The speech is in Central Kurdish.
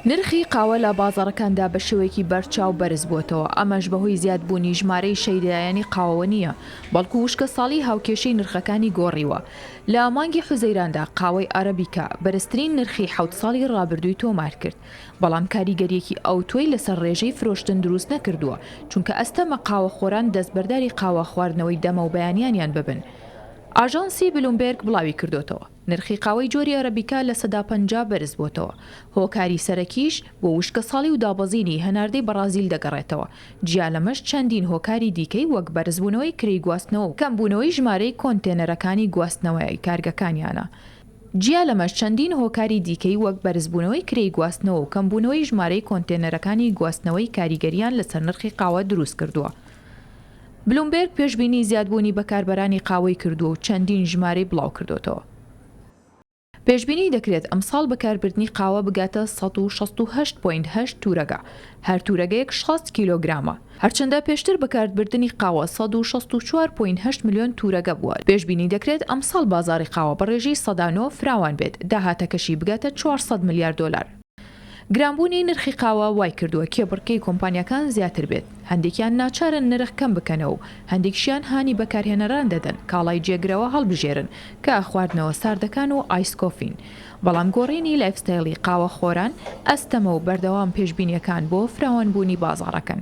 نرخی قاوە لە بازاڕەکاندا بە شێوەیەکی بەرچاو بەرزبووەتەوە، ئەمەش بەهۆی زیادبوونی ژمارەی شەیدایانی قاوەوە نییە، بەڵکو وشکەساڵیی هاوکێشەی نرخەکانی گۆڕیوە. لە مانگی حوزەیراندا قاوەی ئارابیکا بەرزترین نرخی حەوت ساڵی رابردووی تۆمارکرد، بەڵام کاریگەرییەکی ئەوتۆی لەسەر رێژەی فرۆشتن دروستنەکردووە، چونکە ئەستەمە قاوەخۆران دەستبەرداری قاوە خواردنەوەی دەمەوبەیانیانیان ببن. ئاژانسی بلومبێرگ بڵاویکردووەتەوە. نرخی قاوەی جۆری ئەرەبیکا لە سەدا پەنجا بەرزبووەتەوە، هۆکاری سەرەکیش بۆ وشکەساڵی و دابەزینی هەناردەی بەڕازیل دەگەڕێتەوە، جیا لەمەش چەندین هۆکاری دیکەی وەک بەرزبوونەوەی کرێی گواستنەوە و کەمبوونەوەی ژمارەی کۆنتێنەرەکانی گواستنەوەی کارگەکانیانە جیا لەمەش چەندین هۆکاری دیکەی وەک بەرزبوونەوەی کرێی گواستنەوە و کەمبوونەوەی ژمارەی کۆنتێنەرەکانی گواستنەوەی کاریگەرییان لەسەر نرخی قاوە دروستکردووە. بلومبێرگ پێشبینی زیادبوونی بەکاربەرانی قاوەی کردووە و چەندین ژمارەی بڵاوکردۆتەوە. پێشبینی دەکرێت ئەمساڵ بەکاربردنی قاوە بگاتە سەد و شەست و هەشت پۆینت هەشت تورەگا، هەر تورەگەیەک شەست کیلۆگرامە، هەرچەندە پێشتر بەکارتبردنی قاوە سەد و شەست و چوار پۆینت هەشت ملیۆن تورەگە بووە، پێشبینی دەکرێت ئەمساڵ بازاڕی قاوە بەڕێژەی سەدا نۆ فراوان بێت، داهاتەکەشی بگاتە چوار سەد ملیار دۆلار. گرانبوونی نرخی قاوە وایکردووە کێبڕکێی کۆمپانیاکان زیاتر بێت، هەندێکیان ناچارن نرخ کەم بکەنەوە و هەندێکشیان هانی بەکارهێنەران دەدەن کاڵای جێگرەوە هەڵبژێرن کە خواردنەوە ساردەکان و ئایس کۆفین، بەڵام گۆڕینی لایفستایلی قاوەخۆران ئەستەمە و بەردەوام پێشبینییەکان بۆ فراوانبوونی بازاڕەکەن.